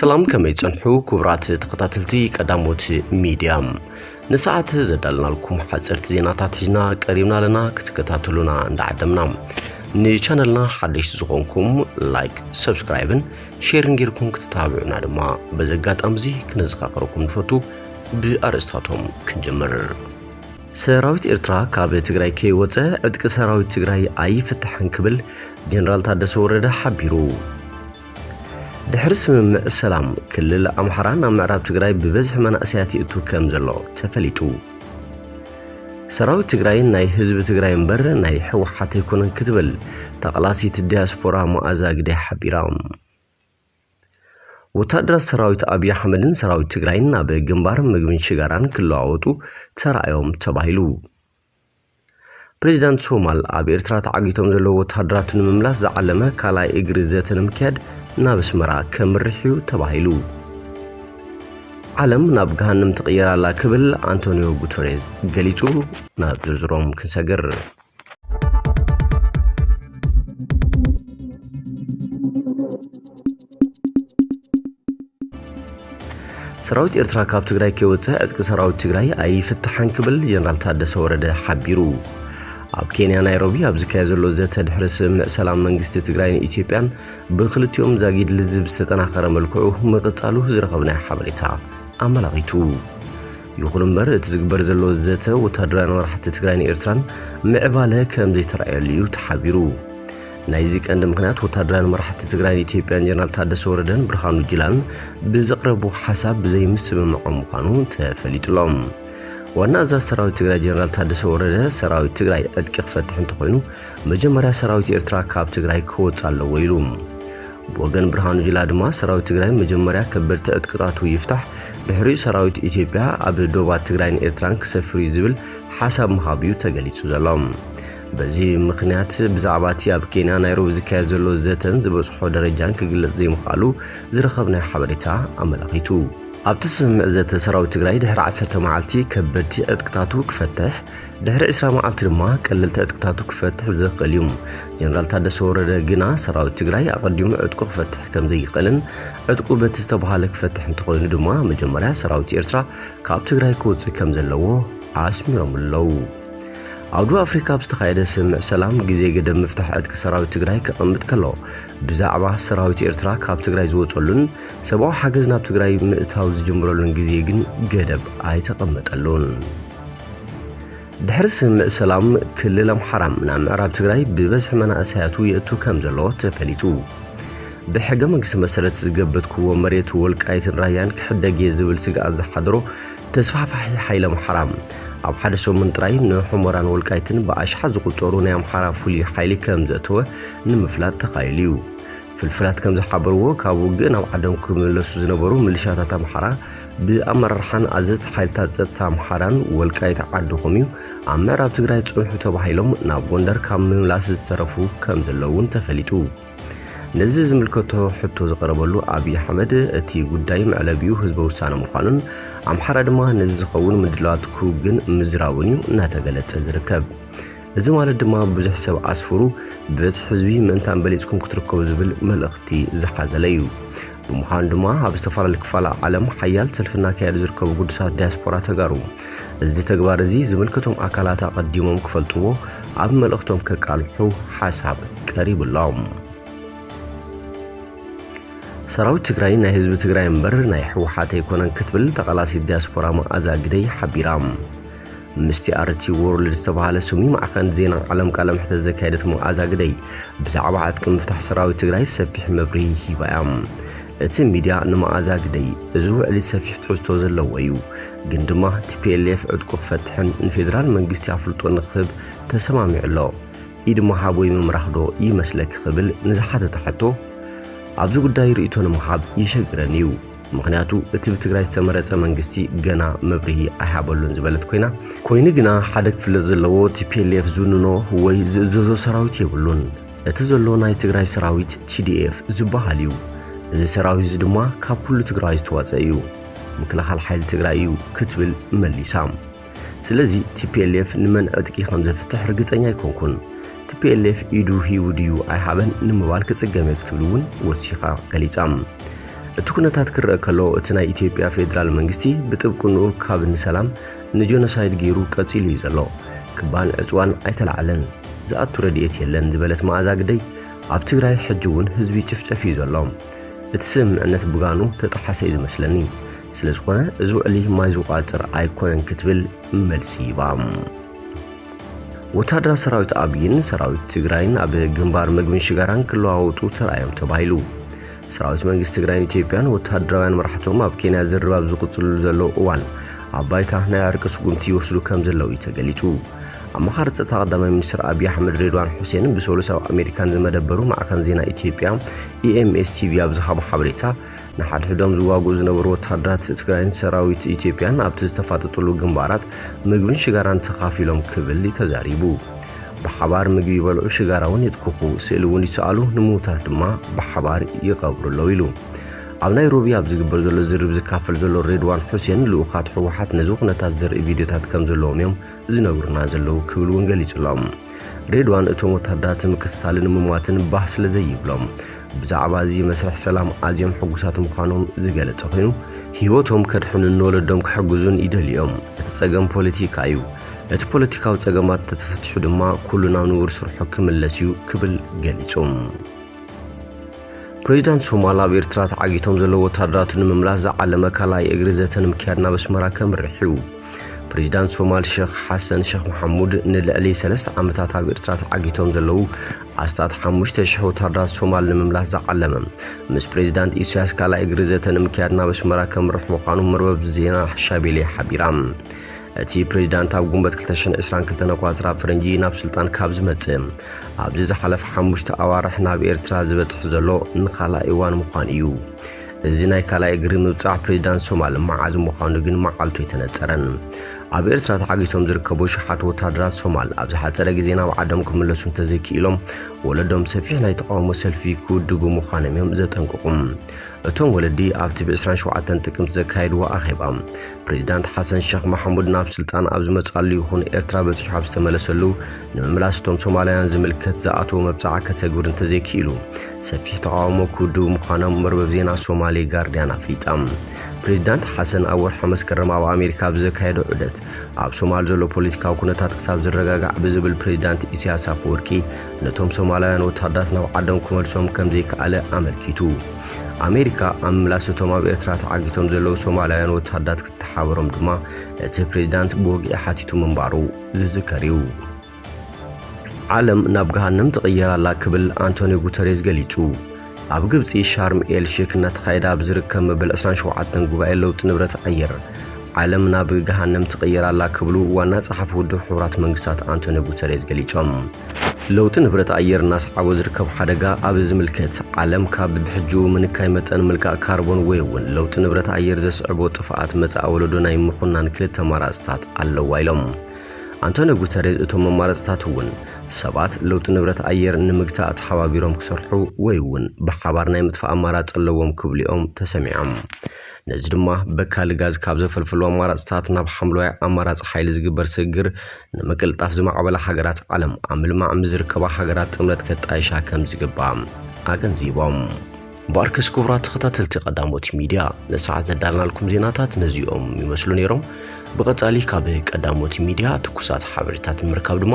ሰላም ከመይ ጸንሑ ክቡራት ተኸታተልቲ ቀዳሞት ሚድያ ንሰዓት ዘዳልናልኩም ሓጸርቲ ዜናታት ሒዝና ቀሪብና ኣለና ክትከታተሉና እንዳዓደምና ንቻነልና ሓደሽቲ ዝኾንኩም ላይክ ሰብስክራይብን ሼርን ጌርኩም ክትተባብዑና ድማ በዚ ኣጋጣሚ እዚ ክነዘኻኽረኩም ንፈቱ ብኣርእስታቶም ክንጀምር ሰራዊት ኤርትራ ካብ ትግራይ ከይወፀ ዕጥቂ ሰራዊት ትግራይ ኣይፍታሕን ክብል ጀነራል ታደሰ ወረደ ሓቢሩ ድሕሪ ስምምዕ ሰላም ክልል ኣምሓራ ናብ ምዕራብ ትግራይ ብበዝሒ መናእሰያት ይእቱ ከም ዘሎ ተፈሊጡ ሰራዊት ትግራይ ናይ ህዝቢ ትግራይ እምበር ናይ ሕወሓት ኣይኮነን ክትብል ተቓላሲት ዲያስፖራ መኣዛ ግደ ሓቢራ። ወታደራት ሰራዊት ኣብዪ ኣሕመድን ሰራዊት ትግራይን ናብ ግንባር ምግብን ሽጋራን ክለዋወጡ ተራእዮም ተባሂሉ። ፕሬዚዳንት ሶማል ኣብ ኤርትራ ተዓጊቶም ዘለዉ ወታደራቱ ንምምላስ ዝዓለመ ካልኣይ እግሪ ዘተ ንምክያድ ናብ ኣስመራ ከምርሕ እዩ ተባሂሉ። ዓለም ናብ ገሃንም ትቕየር ኣላ ክብል ኣንቶኒዮ ጉተሬዝ ገሊጹ። ናብ ዝርዝሮም ክንሰግር። ሰራዊት ኤርትራ ካብ ትግራይ ከይወፀ ዕጥቂ ሰራዊት ትግራይ ኣይፍትሓን ክብል ጀነራል ታደሰ ወረደ ሓቢሩ። ኣብ ኬንያ ናይሮቢ ኣብ ዝካየድ ዘሎ ዘተ ድሕሪ ስምምዕ ሰላም መንግስቲ ትግራይን ኢትዮጵያን ብክልቲኦም ዛጊድ ልዝብ ዝተጠናኸረ መልክዑ ምቕጻሉ ዝረኸብናዮ ሓበሬታ ኣመላኺቱ። ይኹን እምበር እቲ ዝግበር ዘሎ ዘተ ወታደራውያን መራሕቲ ትግራይን ኤርትራን ምዕባለ ከም ዘይተረኣየሉ እዩ ተሓቢሩ። ናይዚ ቀንዲ ምክንያት ወታደራውያን መራሕቲ ትግራይን ኢትዮጵያን ጀነራል ታደሰ ወረደን ብርሃኑ ጅላን ብዘቕረቡ ሓሳብ ብዘይምስምምዖም ምዃኑ ተፈሊጡሎም ዋና ኣዛዝ ሰራዊት ትግራይ ጀነራል ታደሰ ወረደ ሰራዊት ትግራይ ዕጥቂ ክፈትሕ እንተኾይኑ መጀመርያ ሰራዊት ኤርትራ ካብ ትግራይ ክወጽእ ኣለዎ ኢሉ። ብወገን ብርሃኑ ጅላ ድማ ሰራዊት ትግራይ መጀመርያ ከበድቲ ዕጥቅታቱ ይፍታሕ፣ ድሕሪኡ ሰራዊት ኢትዮጵያ ኣብ ዶባት ትግራይን ኤርትራን ክሰፍር እዩ ዝብል ሓሳብ ምሃቡ እዩ ተገሊጹ ዘሎ። በዚ ምኽንያት ብዛዕባ እቲ ኣብ ኬንያ ናይሮቢ ዝካየድ ዘሎ ዘተን ዝበጽሖ ደረጃን ክግለጽ ዘይምኽኣሉ ዝረኸብናዮ ሓበሬታ ኣመላኺቱ። ኣብቲ ስምምዕ ዘተ ሰራዊት ትግራይ ድሕሪ ዓሰርተ መዓልቲ ከበድቲ ዕጥቅታቱ ክፈትሕ፣ ድሕሪ ዕስራ መዓልቲ ድማ ቀለልቲ ዕጥቅታቱ ክፈትሕ ዝኽእል እዩ። ጀነራል ታደሰ ወረደ ግና ሰራዊት ትግራይ ኣቐዲሙ ዕጥቁ ክፈትሕ ከም ዘይኽእልን ዕጥቁ በቲ ዝተባሃለ ክፈትሕ እንተኾይኑ ድማ መጀመርያ ሰራዊት ኤርትራ ካብ ትግራይ ክወፅእ ከም ዘለዎ ኣስሚሮም ኣለዉ። ኣብ ደቡብ ኣፍሪካ ኣብ ዝተኻየደ ስምምዕ ሰላም ግዜ ገደብ ምፍታሕ ዕጥቂ ሰራዊት ትግራይ ከቐምጥ ከሎ ብዛዕባ ሰራዊት ኤርትራ ካብ ትግራይ ዝወፀሉን ሰብኣዊ ሓገዝ ናብ ትግራይ ምእታው ዝጅምረሉን ግዜ ግን ገደብ ኣይተቐመጠሉን። ድሕሪ ስምምዕ ሰላም ክልል ኣምሓራ ናብ ምዕራብ ትግራይ ብበዝሒ መናእሰያቱ የእቱ ከም ዘሎ ተፈሊጡ ብሕገ መንግስቲ መሰረት ዝገበትክዎ መሬት ወልቃይትን ራያን ክሕደግ እየ ዝብል ስግኣት ዝሓደሮ ተስፋሕፋሒ ሓይሊ ኣምሓራ ኣብ ሓደ ሰሙን ጥራይ ንሑመራን ወልቃይትን ብኣሽሓ ዝቁፀሩ ናይ ኣምሓራ ፍሉይ ሓይሊ ከም ዘእተወ ንምፍላጥ ተኻኢሉ እዩ ፍልፍላት ከም ዝሓበርዎ ካብ ውግእ ናብ ዓዶም ክምለሱ ዝነበሩ ምልሻታት ኣምሓራ ብኣመራርሓን ኣዘዝቲ ሓይልታት ጸጥታ ኣምሓራን ወልቃይት ዓድኹም እዩ ኣብ ምዕራብ ትግራይ ጽንሑ ተባሂሎም ናብ ጎንደር ካብ ምምላስ ዝተረፉ ከም ዘለዉ እውን ተፈሊጡ። ነዚ ዝምልከቶ ሕቶ ዝቐረበሉ ኣብዪ ኣሕመድ እቲ ጉዳይ መዕለቢኡ ህዝበ ውሳነ ምዃኑን ኣምሓራ ድማ ነዚ ዝኸውን ምድላዋት ክውግን ምዝራቡን እዩ እናተገለጸ ዝርከብ። እዚ ማለት ድማ ብዙሕ ሰብ ኣስፍሩ ብብዝሒ ህዝቢ ምእንታን በሊጽኩም ክትርከቡ ዝብል መልእኽቲ ዝሓዘለ እዩ። ብምዃኑ ድማ ኣብ ዝተፈላለዩ ክፋላ ዓለም ሓያል ሰልፊ እናካየዱ ዝርከቡ ግዱሳት ዲያስፖራ ተጋሩ እዚ ተግባር እዚ ዝምልከቶም ኣካላት ኣቐዲሞም ክፈልጥዎ ኣብ መልእኽቶም ከቃልሑ ሓሳብ ቀሪብሎም። ሰራዊት ትግራይ ናይ ህዝቢ ትግራይ እምበር ናይ ህወሓት ኣይኮነን ክትብል ተቓላሲት ዲያስፖራ መዓዛ ግደይ ሓቢራ። ምስቲ ኣርቲ ዎርልድ ዝተባሃለ ስሙ ማዕኸን ዜና ዓለም ቃለ መሕተት ዘካየደት መዓዛ ግደይ ብዛዕባ ዕጥቂ ምፍታሕ ሰራዊት ትግራይ ሰፊሕ መብርሂ ሂባ እያ። እቲ ሚድያ ንመዓዛ ግደይ እዚ ውዕሊ ሰፊሕ ትሕዝቶ ዘለዎ እዩ፣ ግን ድማ ቲፒኤልኤፍ ዕጥቁ ክፈትሕን ንፌዴራል መንግስቲ ኣፍልጦ ንክህብ ተሰማሚዑ ኣሎ፣ ኢድ ምሃብ ወይ ምምራኽ ዶ ይመስለኪ ክብል ንዝሓተታ ሕቶ ኣብዚ ጉዳይ ርእይቶ ንምሃብ ይሸግረን እዩ። ምኽንያቱ እቲ ብትግራይ ዝተመረፀ መንግስቲ ገና መብርሂ ኣይሃበሉን ዝበለት ኮይና ኮይኑ ግና ሓደ ክፍለጥ ዘለዎ ቲፒኤልኤፍ ዝውንኖ ወይ ዝእዘዞ ሰራዊት የብሉን። እቲ ዘሎ ናይ ትግራይ ሰራዊት ቲዲኤፍ ዝበሃል እዩ። እዚ ሰራዊት እዚ ድማ ካብ ኩሉ ትግራዋይ ዝተዋፀ እዩ። ምክልኻል ሓይሊ ትግራይ እዩ ክትብል መሊሳ። ስለዚ ቲፒኤልኤፍ ንመን ዕጥቂ ከም ዘፍትሕ ርግጸኛ ኣይኮንኩን። ቲፒኤልኤፍ ኢዱ ሂቡ ድዩ ኣይሃበን ንምባል ክጽገም እየ ክትብል እውን ወሲኻ ገሊጻ። እቲ ኩነታት ክረአ ከሎ እቲ ናይ ኢትዮጵያ ፌዴራል መንግስቲ ብጥብቅንኡ ካብ ንሰላም ንጀኖሳይድ ገይሩ ቀጺሉ እዩ ዘሎ። ክባን ዕጽዋን ኣይተላዕለን፣ ዝኣቱ ረድኤት የለን ዝበለት መኣዛ ግደይ ኣብ ትግራይ ሕጂ እውን ህዝቢ ይጭፍጨፍ እዩ ዘሎ። እቲ ስምምዕነት ብጋኑ ተጠሓሰ እዩ ዝመስለኒ። ስለ ዝኾነ እዚ ውዕሊ ማይ ዝቋጽር ኣይኮነን ክትብል መልሲ ሂባ። ወታደራት ሰራዊት ኣብይን ሰራዊት ትግራይን ኣብ ግንባር ምግብን ሽጋራን ክለዋወጡ ተራእዮም ተባሂሉ። ሰራዊት መንግስቲ ትግራይን ኢትዮጵያን ወታደራውያን መራሕቶም ኣብ ኬንያ ዝርብ ኣብ ዝቕፅልሉ ዘለዉ እዋን ኣብ ባይታ ናይ ዕርቂ ስጉምቲ ይወስዱ ከም ዘለዉ እዩ ተገሊጹ። ኣማኻሪ ጸጥታ ቀዳማይ ሚኒስትር ኣብዪ ኣሕመድ ሬድዋን ሑሴን ብሰሉስ ኣብ ኣሜሪካን ዝመደበሩ ማዕከን ዜና ኢትዮጵያ ኢኤምኤስ ቲቪ ኣብ ዝሃቦ ሓበሬታ ንሓድሕዶም ዝዋግኡ ዝነበሩ ወታሃደራት ትግራይን ሰራዊት ኢትዮጵያን ኣብቲ ዝተፋጠጥሉ ግንባራት ምግብን ሽጋራን ተኻፊሎም ክብል እዩ ተዛሪቡ። ብሓባር ምግቢ ይበልዑ፣ ሽጋራ እውን ይትኩኹ፣ ስእሊ እውን ይሰኣሉ፣ ንምዉታት ድማ ብሓባር ይቐብሩ ኣለዉ ኢሉ። ኣብ ናይሮቢ ኣብ ዝግበር ዘሎ ዝርርብ ዝካፈል ዘሎ ሬድዋን ሑሴን ልኡኻት ህወሓት ነዚ ኩነታት ዘርኢ ቪድዮታት ከም ዘለዎም እዮም ዝነግሩና ዘለዉ ክብል እውን ገሊጹሎም። ሬድዋን እቶም ወታሃደራት ንምክትታልን ምሟትን ባህ ስለ ዘይብሎም ብዛዕባ እዚ መስርሕ ሰላም ኣዝዮም ሕጉሳት ምዃኖም ዝገለጸ ኮይኑ ህይወቶም ከድሕኑን ንወለዶም ክሕግዙን ይደልዩ እዮም። እቲ ጸገም ፖለቲካ እዩ። እቲ ፖለቲካዊ ጸገማት ተተፈቲሑ ድማ ኩሉ ናብ ንቡር ስርሑ ክምለስ እዩ ክብል ገሊጹ። ፕሬዚዳንት ሶማል ኣብ ኤርትራ ተዓጊቶም ዘለዉ ወታደራቱ ንምምላስ ዝዓለመ ካልኣይ እግሪ ዘተ ንምክያድ ናብ ኣስመራ ከምርሕ እዩ። ፕሬዚዳንት ሶማል ሸኽ ሓሰን ሸኽ መሓሙድ ንልዕሊ ሰለስተ ዓመታት ኣብ ኤርትራ ተዓጊቶም ዘለዉ ኣስታት ሓሙሽተ ሽሕ ወታደራት ሶማል ንምምላስ ዝዓለመ ምስ ፕሬዚዳንት ኢሳያስ ካልኣይ እግሪ ዘተ ንምክያድ ናብ ኣስመራ ከምርሕ ምዃኑ መርበብ ዜና ሻቤሌ ሓቢራ እቲ ፕሬዚዳንት ኣብ ጉንበት 222 ኣቋፅራ ፈረንጂ ናብ ስልጣን ካብ ዝመፅእ ኣብዚ ዝሓለፈ ሓሙሽተ ኣዋርሕ ናብ ኤርትራ ዝበፅሕ ዘሎ ንኻልኣይ እዋን ምዃኑ እዩ እዚ ናይ ካልኣይ እግሪ ምብጻሕ ፕሬዚዳንት ሶማል መዓዝ ምዃኑ ግን መዓልቱ ኣይተነጸረን። ኣብ ኤርትራ ተዓጊቶም ዝርከቡ ሸሓት ወታደራት ሶማል ኣብ ዝሓጸረ ግዜ ናብ ዓዶም ክምለሱ እንተዘይክኢሎም ወለዶም ሰፊሕ ናይ ተቃውሞ ሰልፊ ክውድቡ ምዃኖም እዮም ዘጠንቅቑ። እቶም ወለዲ ኣብቲ ብ27 ጥቅምቲ ዘካየድዎ ኣኼባ ፕሬዚዳንት ሓሰን ሸኽ ማሕሙድ ናብ ስልጣን ኣብ ዝመጽኣሉ ይኹን ኤርትራ በጺሑ ኣብ ዝተመለሰሉ ንምምላስ እቶም ሶማላውያን ዝምልከት ዝኣተዎ መብጽዓ ከተግብር እንተዘይክኢሉ ሰፊሕ ተቓውሞ ክውድቡ ምዃኖም መርበብ ዜና ሶማሌ ጋርዲያን ኣፍሊጣ። ፕሬዚዳንት ሓሰን ኣብ ወርሒ መስከረም ኣብ ኣሜሪካ ኣብ ዘካየዶ ዑደት ኣብ ሶማል ዘሎ ፖለቲካዊ ኩነታት ክሳብ ዝረጋጋዕ ብዝብል ፕሬዚዳንት ኢሳያስ ኣፈወርቂ ነቶም ሶማላውያን ወታደራት ናብ ዓዶም ክመልሶም ከምዘይከኣለ ኣመልኪቱ። ኣሜሪካ ኣብ ምምላስ እቶም ኣብ ኤርትራ ተዓጊቶም ዘለዉ ሶማላውያን ወተሃዳት ክትተሓበሮም ድማ እቲ ፕሬዚዳንት ብወግዒ ሓቲቱ ምንባሩ ዝዝከር እዩ። ዓለም ናብ ገሃነም ትቕየር ኣላ ክብል ኣንቶኒዮ ጉተሬዝ ገሊጹ። ኣብ ግብጺ ሻርም ኤል ሼክ እናተኻየደ ኣብ ዝርከብ መበል 27 ጉባኤ ለውጢ ንብረት ኣየር ዓለም ናብ ገሃነም ትቕየር ኣላ ክብሉ ዋና ጸሓፊ ውድብ ሕቡራት መንግስታት ኣንቶኒዮ ጉተሬዝ ገሊጾም። ለውጢ ንብረት ኣየር እናሰዓቦ ዝርከብ ሓደጋ ኣብ ዝምልከት ዓለም ካብ ብሕጂኡ ምንካይ መጠን ምልካእ ካርቦን ወይ እውን ለውጢ ንብረት ኣየር ዘስዕቦ ጥፍኣት መጻኢ ወለዶ ናይ ምኹናን ክልተ ኣማራፅታት ኣለዋ ኢሎም ኣንቶኒዮ ጉተሬዝ። እቶም ኣማራፅታት እውን ሰባት ለውጢ ንብረት ኣየር ንምግታእ ተሓባቢሮም ክሰርሑ ወይ እውን ብሓባር ናይ ምጥፋእ ኣማራፂ ኣለዎም ክብሉ እዮም ተሰሚዖም። ነዚ ድማ በካሊ ጋዝ ካብ ዘፈልፍሉ ኣማራፅታት ናብ ሓምለዋይ ኣማራፂ ሓይሊ ዝግበር ስግግር ንምቅልጣፍ ዝማዕበላ ሃገራት ዓለም ኣብ ምልማዕ ምስ ዝርከባ ሃገራት ጥምረት ከጣይሻ ከም ዝግባእ ኣገንዚቦም። እምበኣርከስ ክቡራት ተኸታተልቲ ቀዳሞት ሚድያ ንሰዓት ዘዳልናልኩም ዜናታት ነዚኦም ይመስሉ ነይሮም። ብቐፃሊ ካብ ቀዳሞት ሚድያ ትኩሳት ሓበሬታት ንምርካብ ድማ